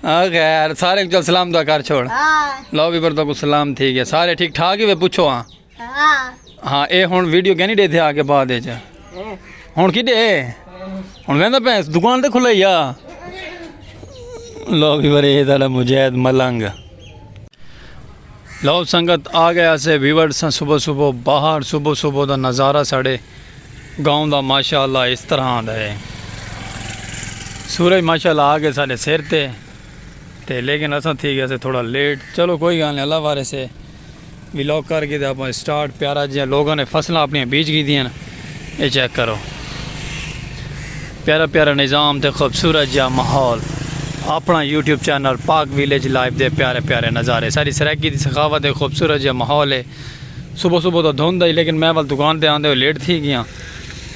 خیر سارے کچھ سلام دا کر چھوڑ لو بھی بردو کو سلام تھی گیا سارے ٹھیک ٹھاک ہی وے پوچھو ہاں ہاں اے ہن ویڈیو کہنی دے تھے آگے بعد اچ ہن کی دے ہن ویندا پے دکان تے کھلے یا لو بھی برے دا مجاہد ملنگ لو سنگت آ گئے اسے ویورڈ سا صبح صبح باہر صبح صبح دا نظارہ ساڑے گاؤں دا ماشاءاللہ اس طرح آندا ہے سورج ماشاءاللہ آ گئے ساڑے سر تے تے لیکن اساں تھی گئے اسے تھوڑا لیٹ چلو کوئی گال نہیں اللہ وارے سے ویلوگ کر کے دے اپنے سٹارٹ پیارا جیاں لوگوں نے فصلہ اپنی بیچ گی دیاں اے چیک کرو۔ پیارا پیارا نظام تے خوبصورت جیہا ماحول۔ اپنا YouTube channel Pak village life دے پیارے پیارے نظارے۔ ساڈی سرائیکی دی سخاوت اے خوبصورت جیہا ماحول اے۔ صبح صبح تاں دھند ہئی لیکن میں ول دکان تے آندے ہوئے لیٹ تھی گیاں۔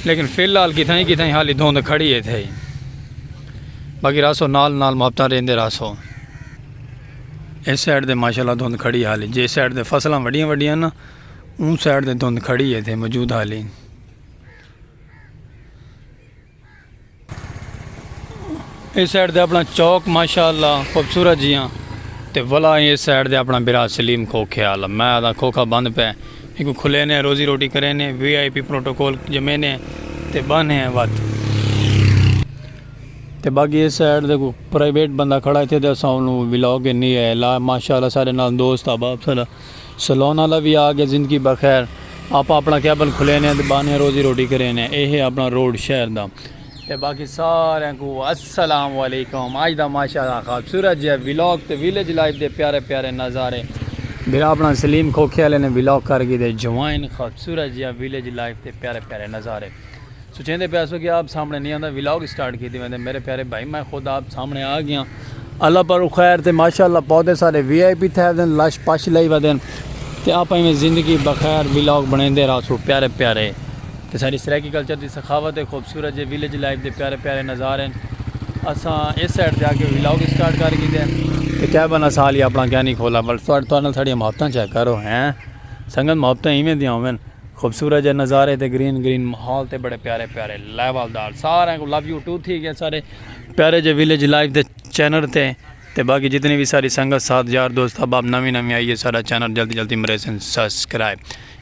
لیکن فی الحال کتھائیں کتھائیں حالی دھند کھڑی اے تھئی۔ باقی رہسو نال نال محبتاں ریندے رہسو۔ اے سائیڈ تے ماشاءاللہ دھند کھڑی حالی۔ جے سائیڈ تے فصلاں وڈیاں وڈیاں نا۔ اوں سائیڈ تے دھند کھڑی ہے تے موجود حالین اس سائیڈ دے اپنا چوک ماشاءاللہ خوبصورت جیاں تے ولا اس سائیڈ دے اپنا برا سلیم کھوکھے آلا میں آدھا کھوکھا بند پہ ایکو کھلے نے روزی روٹی کرے نے وی آئی پی پروٹوکول جمعے نے تے بن ہیں وات تے باقی اس سائیڈ دے کو پرائیویٹ بندہ کھڑا ہے تے دے ساؤنو ولاگ نہیں ہے لا ماشاءاللہ سارے نال دوست آباب سلا سلون آلا وی آ گئے زندگی بخیر آپا اپنا کیبن کھلے نے تے بانے روزی روٹی کرے نے اے ہے اپنا روڈ شہر دا تے باقی سارے کو السلام علیکم آج دا ماشاءاللہ خوبصورت جے ویلاگ تے ویلج لائف دے پیارے پیارے نظارے بھرا اپنا سلیم کھوکھے آلے نے ویلاگ کر گی دے جوائن خوبصورت جے ویلج لائف تے پیارے پیارے نظارے سچیندے پئے ہسو کہ آپ سامنے نی آندا ولاگ اسٹارٹ کیتی ویندے میرے پیارے بھائی میں خود آپ سامنے آ گیاں اللہ پر خیر تے ماشاءاللہ پودے سارے وی آئی پی تھے ودن لش پش لئی ودن تے آپاں ایویں زندگی بخیر ولاگ بنیندے رہسو پیارے پیارے تے ساڈی سرائیکی کلچر دی سخاوت ہے خوبصورت جے ویلیج لائف دے پیارے پیارے نظارے ہیں اساں اس سائیڈ تے آ کے ولاگ اسٹارٹ کر گیتے ہیں تے کیا بنا سال ہی اپنا کیا نہیں کھولا بل تہاڈے نال ساڈیاں محبتاں چیک کرو ہیں سنگت محبتاں ایویں دیاں ہوون خوبصورت جے نظارے تے گرین گرین ماحول تے بڑے پیارے پیارے لیول دار سارے کو لو یو ٹو تھی گئے سارے پیارے جے ویلیج لائف دے چینل تے تے باقی جتنی بھی ساری سنگت ساتھ یار دوست احباب نوی نوی آئیے سارا چینل جلدی جلدی مرے سن سبسکرائب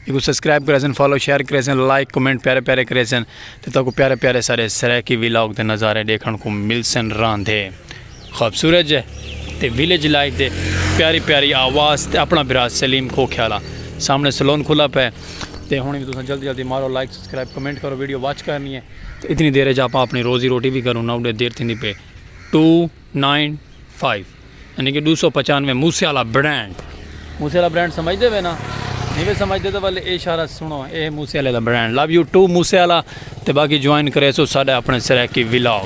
یہ کو سبسکرائب کرے سن فالو شیئر کرے سن لائک کمنٹ پیارے پیارے کرے سن تے تو کو پیارے پیارے سارے سرائیکی ویلاگ دے نظارے دیکھن کو مل سن راندھے خوبصورت جے تے ویلیج لائف دے پیاری پیاری آواز تے اپنا بھرا سلیم کھوکھیالہ سامنے سلون کھلا پے تے ہن وی تساں جلدی جلدی مارو لائک سبسکرائب کمنٹ کرو ویڈیو واچ کرنی ہے تے اتنی دیر اچ آپاں اپنی روزی روٹی وی کروں نا اڈے دیر تھیندی پے ٹو نائن فائیو یعنی کہ ڈو سو پچانوے موسے والا برانڈ موسے والا برانڈ سمجھ دے وے نا نہیں وے سمجھ دے تو والے اے اشارہ سنو اے موسے والے دا برانڈ لو یو ٹو موسے والا تے باقی جوائن کرے سو ساڈا اپنے سرائیکی ولاگ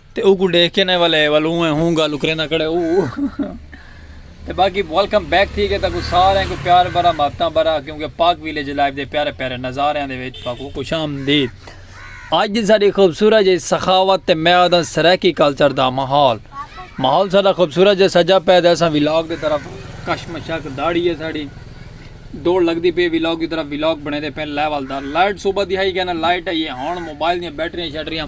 تے اوکوں ڈیکھ کے نہ ولے ول اوں ہے ہوں گالوں کریندا کھڑے او تے باقی ویلکم بیک تھی گئے تاکو سارے کو پیار بھرا محبتاں بھرا کیونکہ پاک ویلیج لائف دے پیارے پیارے نظاریاں دے وچ تاکو خوش آمدید اج دی ساری خوبصورت جی سخاوت تے میں آدھا سرائیکی کلچر دا ماحول ماحول سارا خوبصورت جی سجا پہ دے اساں ویلاگ دے طرف کشمشک داڑی ہے ساڑی دوڑ لگ دی پہ ویلاگ دی طرف ویلاگ بنے دے پہ لیول دا لائٹ صوبہ دی ہائی گیا نا لائٹ ہے یہ ہون موبائل دی بیٹریاں شیٹریاں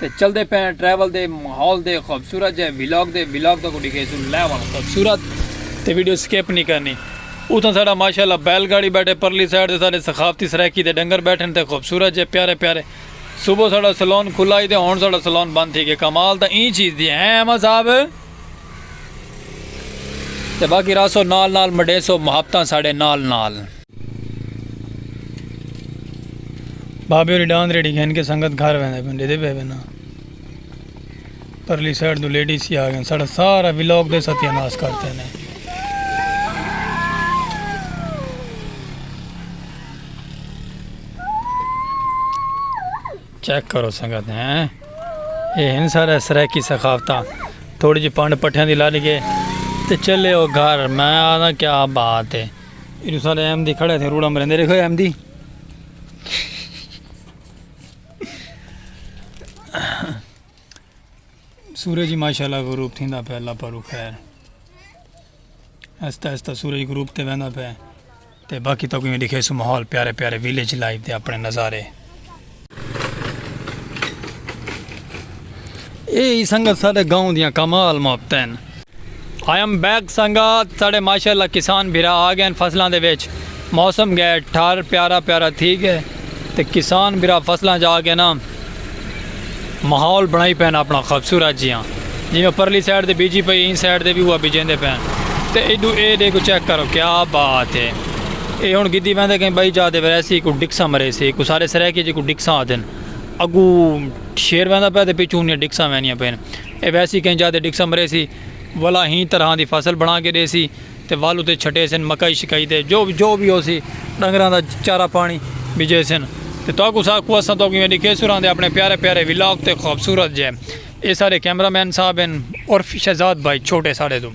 تے چلدے پئے آں ٹریول دے ماحول دے خوبصورت جئے ولاگ دے ولاگ تکوں ڈکھیسوں لے ونڑ خوبصورت تے ویڈیو سکپ نی کرنی اتھاں ساڈا ماشاءاللہ بیل گاڑی بیٹھے پرلی سائیڈ تے ساڈے ثقافتی سرائیکی دے ڈنگر بیٹھن تے خوبصورت جئے پیارے پیارے صبح ساڈا سلون کھلا ہئی تے ہن ساڈا سلون بند تھی گئے کمال تاں ایں چیز دی ہیں احمد صاحب تے باقی رہسو نال نال مڈیسو محبتاں ساڈے نال نال۔ بابے ہوری ڈاند ریڈی گھن کے سنگت گھر ویندے پن ڈیدے پے بنا پرلی سائیڈ دو لیڈی سی آگئے ساڑھا سارا ویلوگ دے ستیہ ناس کرتے ہیں چیک کرو سنگت ہیں یہ ہن سارا سریکی سخافتہ تھوڑی جی پانڈ پٹھیاں دی لڑ گئے تے چلے او گھر میں آدھا کیا بات ہے ایڈو سارے احمدی کھڑے تھے روڑا مرندے دیکھو احمدی سورج ہی ماشاءاللہ غروب تھیندا پہ اللہ پرو خیر آہستہ آہستہ سورج غروب تے ویندا پہ تے باقی تو کوئی دکھے سو ماحول پیارے پیارے ویلیج لائف دے اپنے نظارے اے ہی سنگت ساڈے گاؤں دیاں کمال محبتین۔ آئی ایم بیک سنگت ساڈے ماشاءاللہ کسان بھرا آ گئین فصلاں دے وچ موسم گئے ٹھر پیارا پیارا تھی گئے تے کسان بھرا فصلاں چ آ گئے نا۔ ماحول بنڑائی پئن اپنڑاں خوبصورت جیاں جیویں پرلی سائیڈ تے بیجی پئی ایں سائیڈ تے وی اوہا بیجیندے پئن تے ایڈو اے ڈیکھو چیک کرو کیا بات اے اے ہنڑ گدھی ویندے کہیں بئی جاہ تے ویسی کوئی ڈکساں مریسی کوئی سارے سرائیکی جی کوئی ڈکساں آدھن اگو شیر ویندا پیا تے پیچھو انیاں ڈکساں ویندیاں پئن اے ویسی کہیں جاہ تے ڈکساں مریسی ولا ہی طرحاں دی فصل بنڑا کے ڈیسی۔ تے ول اتے چھٹیسن مکائی شکائی تے جو جو وی ہوسی ڈنگراں دا چارہ پانی بجیسن تے تہاکوں سا کوں اساں تہاکوں ایویں ڈکھیسوں راں دے اپنے پیارے پیارے ولاگ تے خوبصورت جے اے سارے کیمرہ مین صاحب ہن عرف شہزاد بھائی چھوٹے ساڈے توں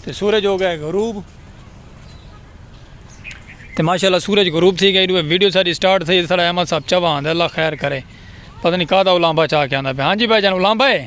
تے سورج ہو گئے غروب تے ماشاءاللہ سورج غروب تھی گئی دوے ویڈیو ساڈی سٹارٹ تھئی ساڈا احمد صاحب چوا ہاں دے اللہ خیر کرے پتہ نہیں کا دا اولانبا چا کے آندا پیا ہاں جی بھائی جان اولانبا ہے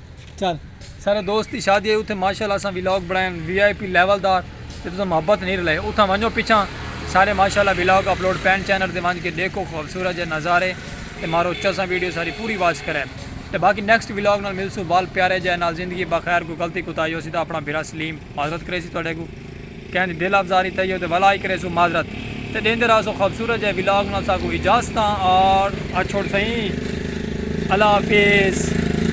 چل سارے دوست دی شادی ہے اتھے ماشاءاللہ اساں ولاگ بنڑائے وی آئی پی لیول دا تے تساں محبت نیں رلائے اتھاں ونجو پچھاں سارے ماشاءاللہ ولاگ اپلوڈ پین چینل تے ونج کے ڈیکھو خوبصورت جے نظارے تے مارو چساں ویڈیو ساری پوری واچ کرے تے باقی نیکسٹ ولاگ نال ملسوں وال پیارے جے نال زندگی بخیر کوئی غلطی کوتاہی ہوسی تاں اپنا بھرا سلیم معذرت کریسی تہاڈے کوں کہیں دی دل افزاری تھئی ہو تے ولا ہی کریسوں معذرت تے ڈیندے راہسوں خوبصورت جے ولاگ نال ساکوں اجازتاں اور اچھوڑ سئیں اللہ حافظ